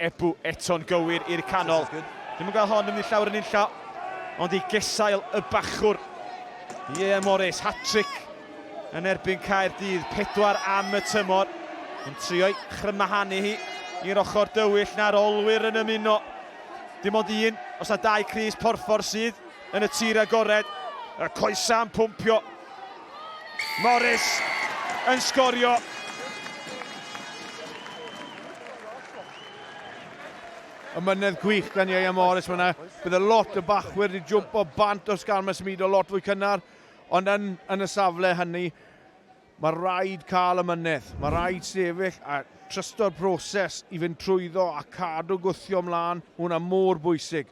Ebou eto'n gywir i'r canol. Ddim yn cael hon yn mynd llawer yn unlla, ond i gesail y bachwr. Ie, Morris, hat-trick yn erbyn Caerdydd, pedwar am y tymor. Yn trio'i chrymahanu hi i'r ochr dywyll na'r olwyr yn ymuno. Dim ond un, os na dau Cris Porffor sydd yn y tir agored. Y coesau yn pwmpio. Morris yn sgorio. Ymynedd gwych gan Ieuan Morris fyna. Bydd y lot y bachwyr wedi jwmp o bant os gan mae symudo lot fwy cynnar. Ond yn, yn y safle hynny, mae rhaid cael ymynedd. Mae rhaid sefyll a trysto'r broses i fynd trwyddo a cadw gwthio ymlaen. Mae hwnna mor bwysig.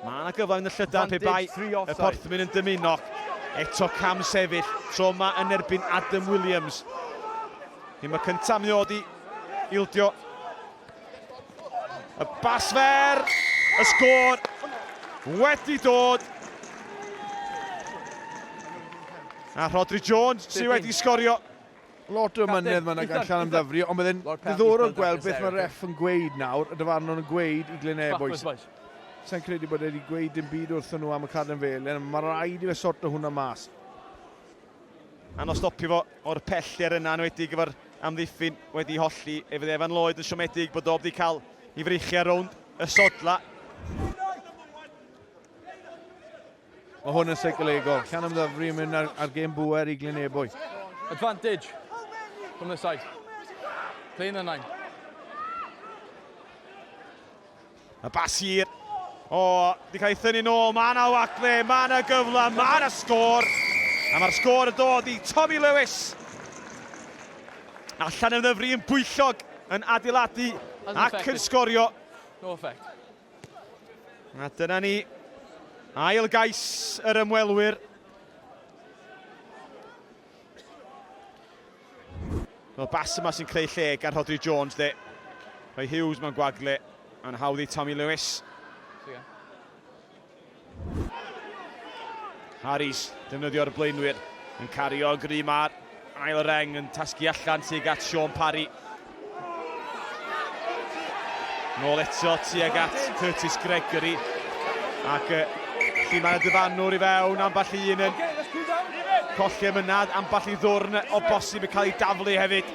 Mae yna gyfle yn y llydan pe bai y Porthmyn yn dymuno. Eto cam sefyll, tro yma yn erbyn Adam Williams. Hym y cyntaf mi oedd i ildio. Y bas fer, y sgôr wedi dod. A Rodri Jones sydd wedi sgorio. Lot o ymynedd mae'n gan Sian ymddyfri, ond byddai'n ddiddorol gweld beth mae'r ref yn gweud nawr, y dyfarnwr yn gweud i Glyn Ebois. Sa'n credu bod wedi gweud dim byd wrthyn nhw am y Caden Felen, mae rhaid i fe sort o hwnna mas. Anodd stopio fo o'r pellter yna, enwedig efo'r amddiffyn wedi holli. Efe dde Evan Lloyd yn siomedig bod o wedi cael ei freichiau rownd y sodla. Mae hwn yn seicl egol. Llan ymddyfri yn mynd ar, ar gêm bwer i Glynebwy. Advantage from the side. Play in the nine. A bas hir. O, di cael ei thynnu nôl. Mae yna wacle, mae yna gyfle, mae yna sgôr. A mae'r sgôr yn dod i Tommy Lewis. Allan ymddyfri yn bwyllog yn adeiladu ac yn sgorio. No effect. A dyna ni, ail gais yr ymwelwyr. Wel, bas yma sy'n creu lle gan Rhodri Jones, de. Rhoi Hughes mewn gwagle, a'n hawdd i Tommy Lewis. Harris, defnyddio'r blaenwyr, yn cario gry ma'r ail reng yn tasgu allan tuag at Sean Parry. Nôl eto tuag at Curtis Gregory. Ac uh, lle mae'r dyfanwr i fewn, amball un yn colli ymynad, amball i ddwrn o bosib yn cael ei daflu hefyd.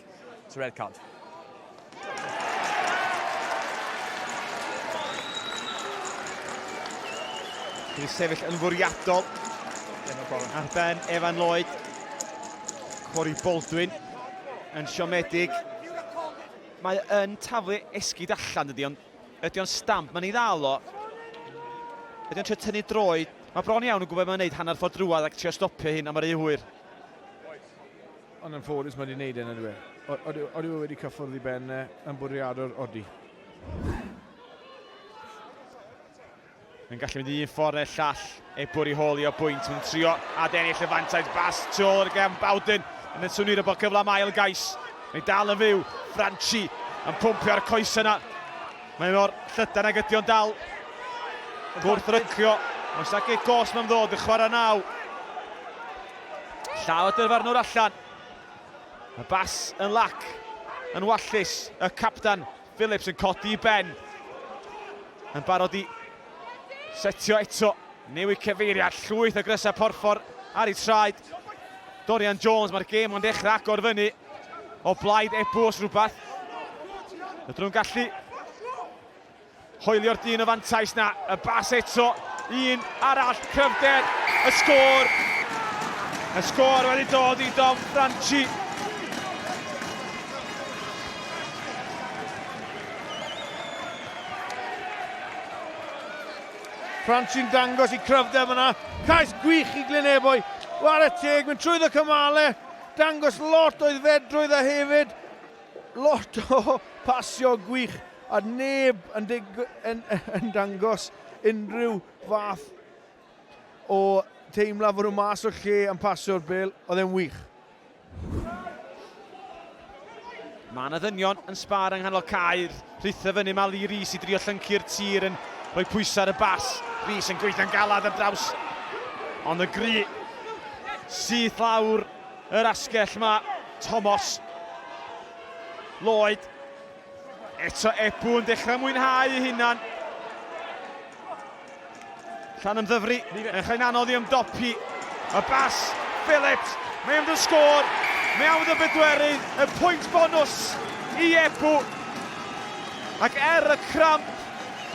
to red card. Wedi sefyll yn fwriadol ar ben Evan Lloyd. Corey Baldwin yn siomedig. Mae yn taflu esgyd allan dydy, ond ydy o'n stamp, mae'n ei ddal o. Ydy o'n trio tynnu droi. Mae bron iawn yn gwybod mae'n gwneud hanner ffordd drwad ac trio stopio hyn, a mae'r eu hwyr. Ond yn ffodus mae wedi gwneud e, nid yw e? Odyw e wedi cyffwrdd i ben e yn bwriadwr? Odi. Mae'n gallu mynd i un ffordd neu'r llall, ei bwr i holi o bwynt. Mae'n trio adennill y fantais bas tu ôl i'r gefn Bowden yn y swnir o bod cyfle am ail gais. Mae dal yn fyw, Franchi yn pwmpio'r coes yna. Mae mor llydan ag ydy o'n dal. Gwrthrycio, mae'n sac ei gos mae'n ddod yn chwarae naw. Llaw y dyfarnwr allan. Y bas yn lac, yn wallus. Y capdan Phillips yn codi i ben. Yn barod i setio eto. Newid cyfeiriad, llwyth o grysau porffor ar ei traed. Dorian Jones, mae'r gêm ond dechrau agor fyny. O blaid ebw os rhywbeth. Y drwy'n gallu Hoelio'r dyn y fantais 'na, y bas eto, un arall, cryfder, y sgôr! Y sgôr wedi dod i Dom Franchi. Franchi'n dangos i cryfder fyna, cais gwych i Glynebwy, war y teg, mynd trwy ddo cymale, dangos lot o ddfedrwydd a hefyd Lot o basio gwych a neb yn dig- yn, yn dangos unrhyw fath o teimlad fod nhw mas o'r lle yn pasio'r bel. Oedd e'n wych. Mae yna ddynion yn sbar yng nghanol cair. Rhitha fyny mae Lee Rees i drio llyncu'r tir yn rhoi pwysau ar y bas. Rees yn gweithio'n galad ar draws. Ond y gri syth lawr Yr asgell ma, Tomos. Lloyd. Eto Ebw yn dechrau mwynhau ei hunan. Llan ymddyfru, yn chael anodd i ymdopi. Y bas, Phillips, mae am dy sgôr. Mae am dy bedwerydd, y pwynt bonus i Ebw. Ac er y cramp,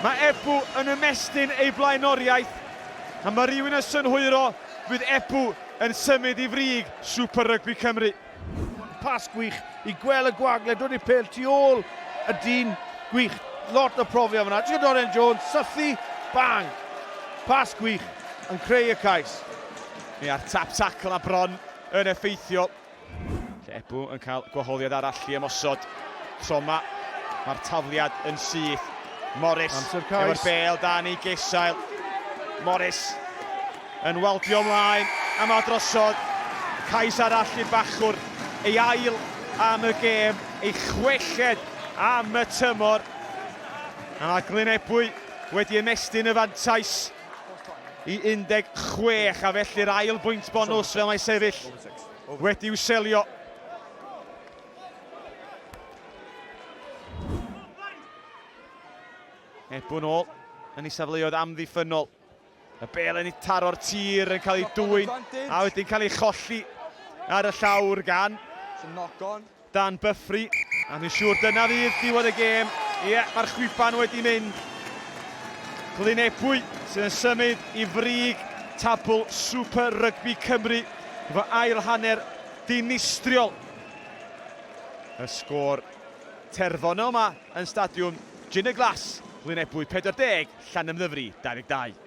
mae Ebw yn ymestyn ei blaenoriaeth. A mae rhywun yn synhwyro, fydd Ebw yn symud i frig Super Rygbi Cymru. Pas gwych i Gwel y Gwag le dod i'r pêl tu ôl y dyn, gwych, lot o profiad fyna. Ti'n Dorian Jones, sythu, bang! Pas gwych yn creu y cais. Ni a'r tap tackle a bron yn effeithiol. Lle Ebou yn cael gwahoddiad arall i ymosod. Troma, mae'r tafliad yn syth. Morris, efo'r bel dan ei gesail. Morris yn waldio ymlaen a mae drosodd. Cais arall i Bachwr, ei ail am y gêm, ei chwelled am y tymor. A mae Glyn Ebwy wedi ymestyn y fantais i 16 a felly'r ail bwynt bonws fel mae sefyll. Oedd wedi'w selio. Ebwn ôl yn ei safleoedd amddiffynol. Y bel yn ei taro'r tir yn cael ei dwy'n a wedi'n cael ei cholli ar y llawr gan. Sy'n knock on. Dan Byfri, a dwi'n siŵr dyna fydd diwedd y gêm. Ie, mae'r chwiban wedi mynd. Glynebwy sydd yn symud i frig tabl Super Rygbi Cymru efo ail hanner dinistriol y sgôr terfynol yma yn Stadiwm Jin y Glas, Glynebwy 40, Llanymddyfri 22.